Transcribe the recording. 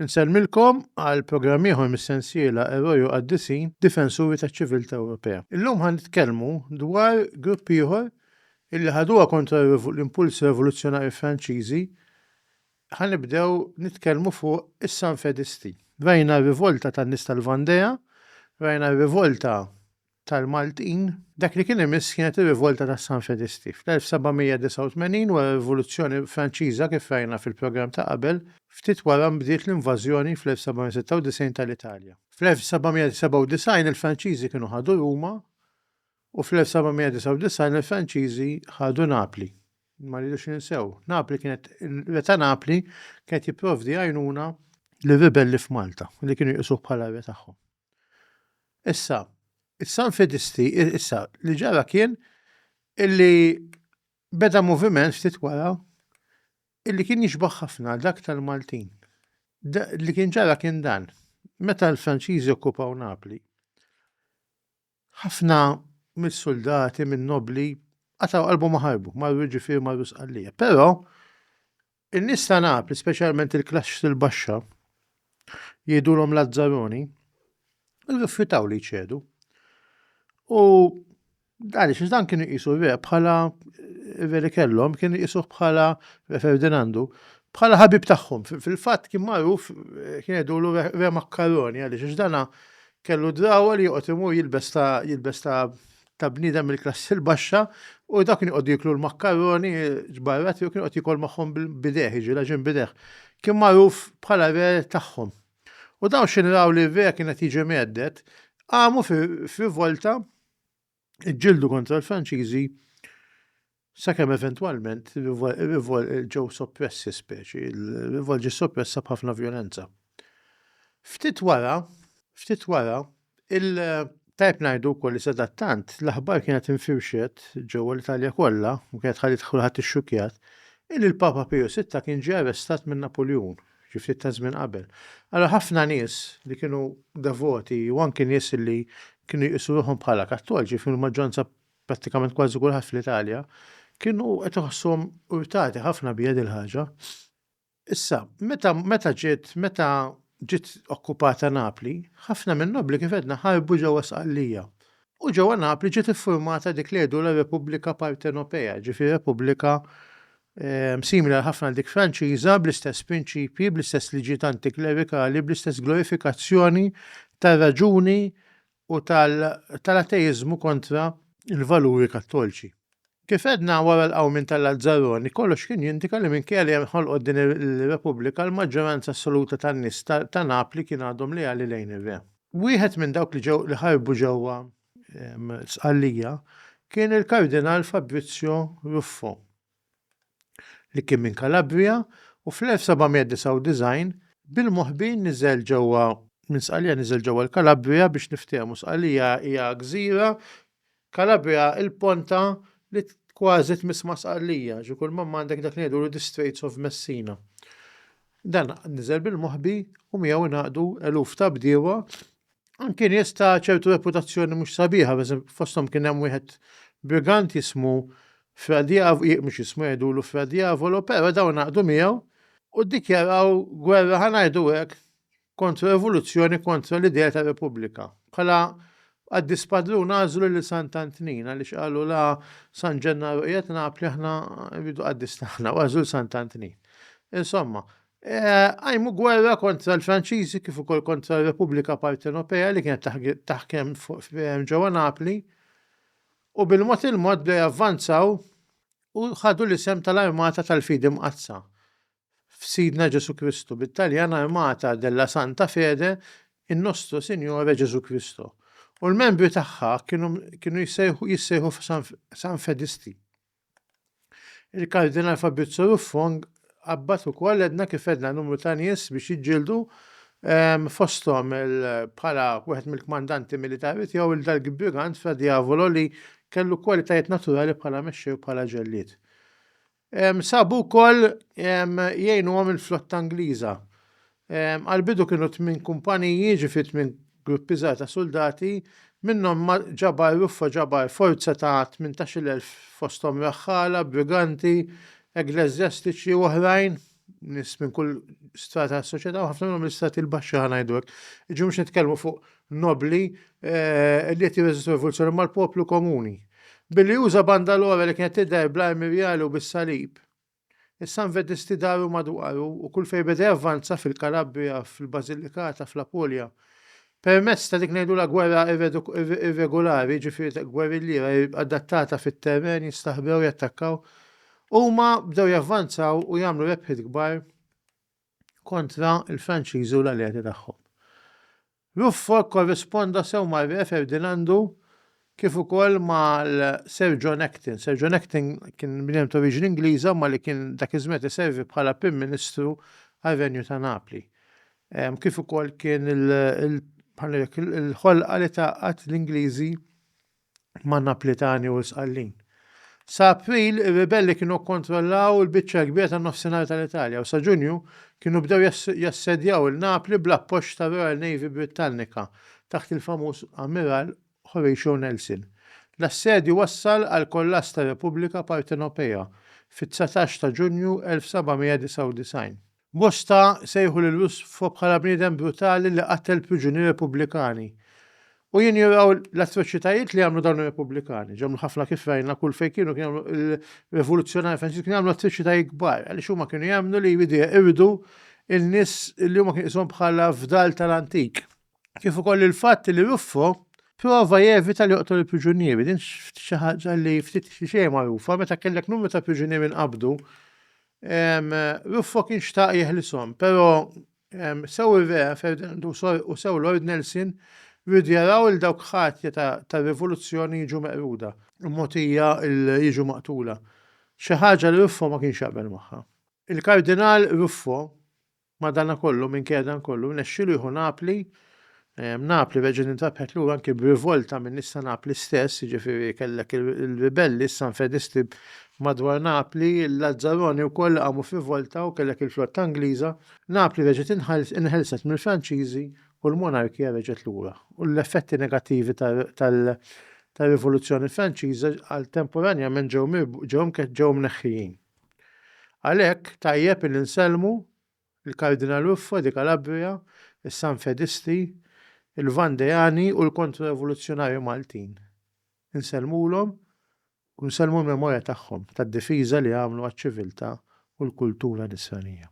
Insellmilkom għal programm ieħor mis-sensiela Eroj u Qaddisin, Difensuri taċ-Ċiviltà Ewropea. Illum ħa nitkellmu dwar grupp ieħor illi ħaduha kontra l-impulsi revoluzzjonarji Franċiżi, ħa nibdew nitkellmu fuq is-Sanfedisti. Rajna r-rivolta tan-nies tal-Vandea, rajna r-rivolta tal-Maltin. Dak li kien imiss kienet ir-rivolta tas-Sanfedisti. Fl-1789, wara r-Rivoluzzjoni Franċiża, kif rajna fil-programm ta' qabel, ftit wara nbdiet l-invażjoni fl-1796 tal-Italja. Fl-1797 il-Franċiżi kienu ħadu Ruma U fl-1799 il-Franċiżi ħadu Napli. Ma rridux ninsew, Napli kienet ir-re ta' Napli kien qed jipprovdi għajnuna lir-ribelli f'Malta li kienu jqisuh bħala r-re tagħhom. Issa, is-Sanfedisti, issa, li ġara kien illi beda moviment ftit wara illi kien jixbah ħafna dak tal-Maltin. Li kien ġara kien dan, meta l-Franċiżi okkupaw Napli, Ħafna mis-suldati, min-nobbli, qatgħu qalbhom u ħarbu, marru jiġifieri marru Sqallija. Però in-nies ta' Napli, speċjalment il-klaxx il-baxxa, jgħidulhom Lazzaroni, rrifjutaw li jċedu. U għaliex dan kienu jqisu re bħala re li kellhom, kienu jqisuh bħala re Ferdinandu, bħala ħabib tagħhom. Fil-fatt kien magħruf kien jgħidulu re makkaroni għaliex dana Kellu d-drawwa li joqgħod imur jilbes ta' jilbes ta' ta' bniedem mill-klassi l-baxxa u dak kien joqgħod jiklu l-makkaroni ġbarrat jew kien joqgħod jikol magħhom bil-bideh, jiġi laġin bideh. Kien magħruf bħala re tagħhom. U dawn x'inraw li r-re kien qed jiġi mgħedded, qamu f'rivolta iġġieldu kontra l-Franċiżi sakemm eventwalment ġew soppressi speċi, il-rivolt ġie soppressa b'ħafna vjolenza. Ftit wara, ftit wara, il- Tajb ngħidu wkoll li sadattant l-aħbar kienet infirxet ġewwa l-Italja kollha u kienet ħallit kulħadd ixxukjat illi l-Papa Piju Sitta kien ġie arrestat minn Napuljun. xi ftit ta' żmien qabel. Allura ħafna nies li kienu devoti u anki nies li kienu jqisu ruħhom bħala Kattoliċi kienu maġġoranza prattikament kważi kulħadd fl-Italja kienu qed iħossuhom urtati ħafna bija din il-ħaġa. Issa, meta meta ġiet meta ġiet okkupata Napli, ħafna min-nobbli kif għedna ħarbu ġewwa Sqallija. U ġewwa Napli ġiet iffurmata dik li jgħidulha Repubblika Partenopea, ġifieri Repubblika simili għal ħafna għal dik Franċiża, bl-istess prinċipji, bl-istess liġijiet antiklerikali, bl-istess glorifikazzjoni tar-raġuni u tal-ateiżmu kontra l-valuri kattolċi. Kif edna wara l-qawmin tal-Lazzaroni, kollox kien jindika li minkejja li ħolqot din ir-Repubblika l-maġġoranza assoluta tan-nies ta' Napli kien għadhom leali lejn ir-Re. Wieħed minn dawk li ġew li ħarbu ġewwa Sqallija kien il-Kardinal Fabrizio Ruffo, li kien minn Calabria u fl-1799 bil-moħbin niżel ġewwa minn Sqallija niżel ġewwa l-Calabria biex niftehmu Sqallija hija gżira Calabria il-ponta li kważi tmiss ma' Sqallija ġi kull ma għandek dak li ngħidulu the Straits of Messina. Dan niżel bil-moħbi u miegħu ngħaqdu eluf ta' bdiewa anki nies ta' ċertu reputazzjoni mhux sabiħa, fosthom kien hemm wieħed brigant jismu Fra Diavolo, mhux jismu jgħidulu Fra Diavolo, però dawn għaqdu miegħu u ddikjaraw gwerra ħanajdu hekk kontra rivoluzzjoni kontra l-idea ta' repubblika. Bħala għaddi spadrun għażlu lil Sant'Antnin għaliex qalu la San Ġennaru qiegħed Napli aħna rridu qaddis taħna u għażlu Sant Antnin. Insomma, Eh, għajmu gwerra kontra l-Franċiżi kif ukoll kontra r-Repubblika Partenopea li kienet taħkem ġewwa Napli u bil-mod il-mod bdew javvanzaw u ħadu l-isem tal-Armata tal-Fidi Mqaddsa f'Sidna Ġesu Kristu bit-Taljan Armata della Santa Fede in Nostro Signore Ġesu Kristu u l-membri tagħha kienu jissejħu San Fedisti. Il-Kardinal Fabrizio Ruffong qabbat ukoll edna kif edna numru ta' nies biex jiġġieldu ehm, fosthom bħala wieħed mill-kmandanti militari tiegħu il dal brigant fra Diavolo li kellu kwalitajiet naturali bħala mexxej u bħala ġellied. Ehm, sabu wkoll ehm, jgħinuhom il-flotta Ingliża Għall-bidu kienu tmien kumpaniji, jiġifieri tmien gruppi żgħar ta' suldati, minnhom ma' ġabar ruffa ġabar forza ta' tmintax-il elf fosthom raħħala, briganti, egleżjastiċi u oħrajn, nies minn kull strata tas-soċjetà u ħafna minnhom mill-istrati l-baxxi ħa ngħidu hekk. Jiġifieri mhux nitkellmu fuq nobbli li qed jirreżistu rivoluzzjoni imma l-poplu komuni. Billi uża banda l-għora li kienet tidher bl-armi rjali u bis-salib. Is-Sanvedisti daru madwaru u kull fejn beda javvanza fil-Kalabrija, fil-Basilikata, fl-Apulja. Permezz ta' dik ngħidulha gwerra irregolari, jiġifieri gwerrilliera adattata fit-terren, jistaħbew, jattakkaw, huma bdew javvanzaw u jagħmlu rebħiet kbar kontra l-Franċiżi u l-alleati tagħhom. Ruffo kkorrisponda sew mar-Re Ferdinandu kif ukoll mal-Sir John Acton. Sir John Acton kien bniedem ta' oriġini Ingliża imma li kien dak iż-żmien qed iservi bħala Prim Ministru għar-Renju ta' Napli. Kif ukoll kien il-ħolqa li tgħaqqad l-Ingliżi ma' Naplitani u l-Sqallin. Sa April ir-ribelli kienu kkontrollaw il-biċċa l-kbira tan-Nofsinhar tal-Italja u sa Ġunju kienu bdew jassedjaw il-Napli bl-appoġġ tar-Royal Navy Brittannika taħt il-famuż Ammiral Horatio Nelson. L-assedju wassal għall-kollass tar-Repubblika Partenopea fit-dsatax ta' Ġunju 1799. Bosta sejħu lil Russfo bħala bniedem brutali li qattel priġunieri Repubblikani. U jinjoraw l-atroċitajiet li għamlu dawn ir-Repubblikani. Ġemlu ħafna kif rajna kull fejn kienu kien jagħmlu l-Revoluzzjonari Franċiżi kien jagħmlu atroċitajiet kbar għaliex huma kienu jemmnu li jridu jeqirdu in-nies li huma kien qishom bħala fdal tal-antik. Kif ukoll il-fatt li Ruffo prova jevita li joqtol il-priġunieri, din xi ħaġa li ftit xi xejn magħrufa meta kellek numru ta' priġunieri nqabdu Ruffo kien xtaq jeħlishom, pero sew ir-Re Ferdinand u sew Lord Nelson riedu jaraw lil dawk ħatja tar-rivoluzzjoni jiġu meqruda u mogħtija jiġu maqtula, xi ħaġa li Ruffo ma kienx jaqbel magħha. Il-Kardinal Ruffo Madanakollu, minkejja dan kollu, nexxielu jieħu Napli, Napli reġgħet intrabħet lura anki b'rivolta minn nies ta' Napli stess, jiġifieri kellek ir-ribelli, s-Sanfedisti madwar Napli, il-Lazzaroni wkoll li qamu f'rivolta u kellek il-flotta Ingliża. Napli reġgħet inħelset mill-Franċiżi u l-monarkija reġgħet lura, u l-effetti negattivi tar-Rivoluzzjoni Franċiża għal temporanjament ġew mneħħijin. Għalhekk tajjeb illi nsellmu l-Kardinal Ruffa di Calabria, is-Sanfedisti, il-Vandeani u l-Kontrorevoluzzjonarji Maltin. Insellmulhom u nsellmu l-memorja tagħhom tad-difiża li għamlu għaċ-ċiviltà u l-kultura Nisranija.